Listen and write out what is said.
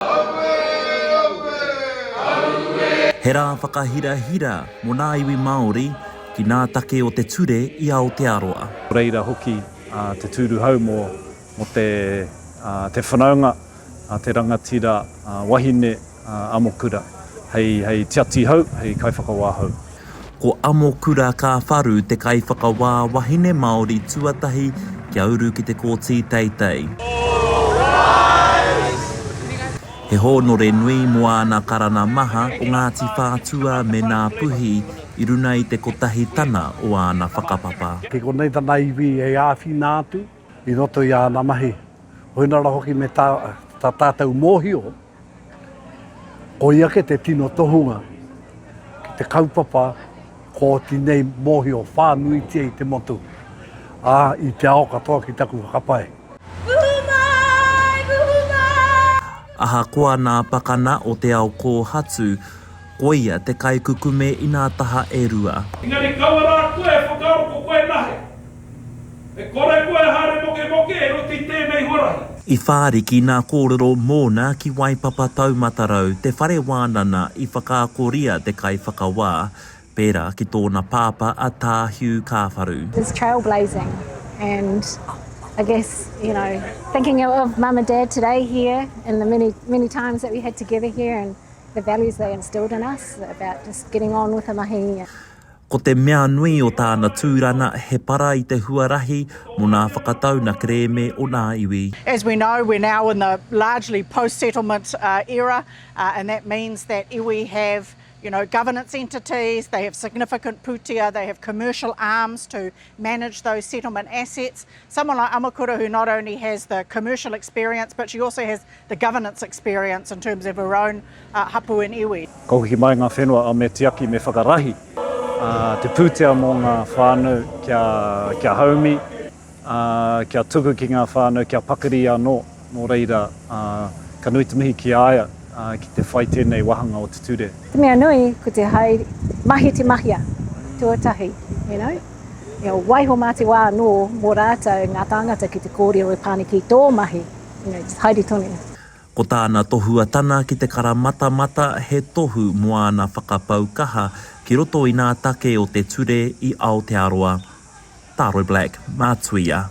Aue! Aue! Aue! He rā whakahirahira mō nā iwi Māori ki nā take o te ture i Aotearoa. Nō reira hoki te tūru hau mō te whanaunga a te rangatira wahine amokura hei tiati hau, hei kaiwhakawā hau. Ko Amokura Kāwharu te kaiwhakawā wahine Māori tuatahi kia uru ki te Kōti Teitei. He hōnore nui mō āna karanga maha ko Ngāti Whātua me Ngāpuhi i runa i te kotahi tana o āna whakapapa. Ki konei tana iwi e āwhina atu. i roto i āna mahi, koina rā hoki me tā tātou mōhio, koia ke te tino tohunga ki te kaupapa ko tinei mōhio whānuitia i te motu, ā, i te ao katoa ki taku whakapae. Ahakoa nā Pakana o te ao kōhatu, koia te kaikukume inā taha e rua. Engari kaua rā koe e whakaaro ko koe nahe. E kore koe e haere mokemoke e roto i tēnei huarahi. I whāriki nā kōrero mōna ki Waipapa Taumatarau te whare wānana i whakaakoria te kaiwhakawā, pērā ki tōna pāpā a Tā Hugh Kāwharu. His trail blazing and I guess you know thinking of mum and dad today here and the many many times that we had together here and the values they instilled in us about just getting on with the mahi. Ko te mea nui o tāna tūranga he para i te huarahi mō nā whakatau na kerēme o nā iwi. As we know, we're now in the largely post-settlement era and that means that iwi have, you know, governance entities, they have significant putea, they have commercial arms to manage those settlement assets. Someone like Amakura who not only has the commercial experience but she also has the governance experience in terms of her own hapu and iwi. Kua hoki mai ngā whenua a Me Tiaki me Whakarahi te pūtea mō ngā whānau kia haumi, kia tuku ki ngā whānau, kia pakiri anō. Nō reira, ka nui te mihi ki a ia ki te whai tēnei wāhanga o te ture. Te mea nui, ko te hai mahi te mahia tuatahi, you know. Waiho mā te wā anō mō rātou ngā tāngata ki te kōrero e Pane ki tō mahi, you know, just haere tonu. Ko tāna tohuatana ki te kara matamata he tohu mō āna whakapau kaha ki roto i nā take o te ture i Aotearoa. Taro Black, Matuia.